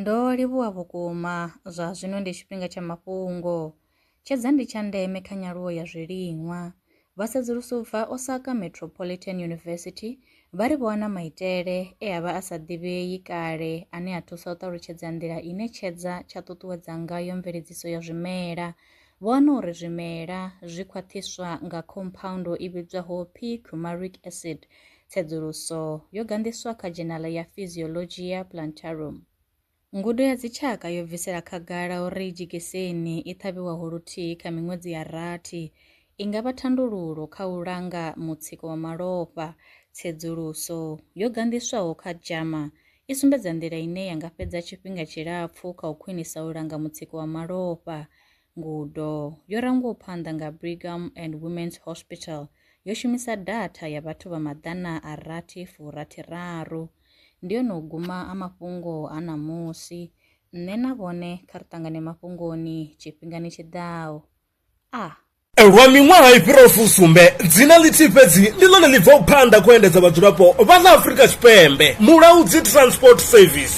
Ndo livhuwa vhukuma, zwa zwino ndi tshifhinga tsha mafhungo. Tshedza ndi tsha ndeme kha nyaluwo ya zwiliṅwa. Vha sedzuluso u bva Osaka Metropolitan University vha ri vho wana maitele e a vha a sa ḓivhei kale ane a thusa u ṱalutshedza nḓila ine tshedza tsha ṱuṱuwedza ngayo mveledziso ya zwimela. Vho wana uri zwimela zwi khwaṱhiswa nga khomphaundu i vhidzwaho p-cumaric acid Tsedzuluso yo ganḓiswa kha dzhenala ya Physiologia Plantarum. Ngudo ya dzitshaka yo bvisela khagala uri dzhekiseni i ṱhavhiwaho luthihi kha miṅwedzi ya rathi i nga vha thandululo kha u langa mutsiko wa malofha. Tsedzuluso yo ganḓiswaho kha JAMA i sumbedza nḓila ine ya nga fhedza tshifhinga tshilapfu kha u khwinisa u langa mutsiko wa malofha. Ngudo yo rangwaho phanḓa nga Brigham and Women's Hospital yo shumisa datha ya vhathu vha maḓana a rathi furathi raru. Ndi yone u guma a mafhungo a ṋamusi. Nṋe na vhone kha ri ṱangane mafhungoni tshifhingani tshi ḓaho. A. Lwa miṅwaha i fhiraho fusumbe, dzina ḽithihi fhedzi ndi ḽone ḽi bvaho phanḓa kha u endedza vhadzulapo vha ḽa Afrika Tshipembe, Mulaudzi Transport Service.